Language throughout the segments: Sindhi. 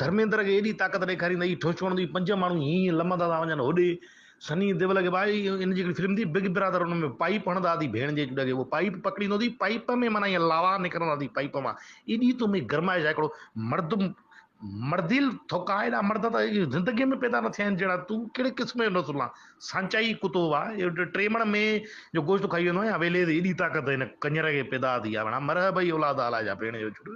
ڌرميندر کي ايڏي طاقت ڏيکاري ته هي ٺوشڪڻ ڏئي پنج ماڻهو هينئن هينئن لمهندا ٿا وڃن هوڏي سني ديول کي ڀائي ان جي هڪڙي فلم ٿي بگ برادر ان ۾ پائيپ هڻندا اٿي ڀيڻ جي جڏهن هو پائيپ پڪڙيندو اٿي پائيپ ۾ معنيٰ هيئن لاوا نڪرندا اٿي پائيپ مان ايڏي تو ۾ گرمائش آهي هڪڙو مرد مرديل ٿوڪا ايڏا مرد ته زندگي ۾ پيدا نه ٿيا آهن جهڙا تون ڪهڙي قسم جو نسل آن سانچائي ڪتو وا ٽي مڻ مين جو گوشت کائي ويندو آهيان ويليد ايڏي طاقت هن ڪڃر کي پيدا ٿي آ ڀيڻا مرهه ڀئي اولاد آلا جا ڀيڻ جو ڇوٽ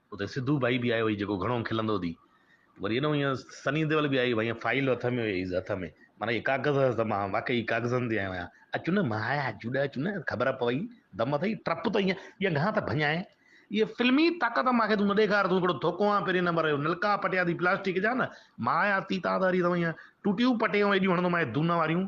اتي سڌو ڀائي به آيو هئي جيڪو گهڻو کلندو هتي وري ايڏو هيئن سني ديول به آيو هيئن فائيل هٿ ۾ هيس هٿ ۾ معنيٰ هي ڪاغذ هئس ته مان واقعي ڪاغذن تي آيو آهيان اچ نه مان آيا جوڏ اچ نه خبر پوي دم اٿئي ٽپ ته هيئن ٻيا گهڻا ته ڀڃائي هيء فلمي طاقت مان کي تون نه ڏيکار تون هڪڙو ڌوڪو آهين پهرين نمبر جو نلڪا پٽيا اٿئي پلاسٽڪ جا نه مان آيا اٿئي تان ته هري هيئن ٽوٽيون پٽيون ايڏيون هڻندومانء دونهن واريون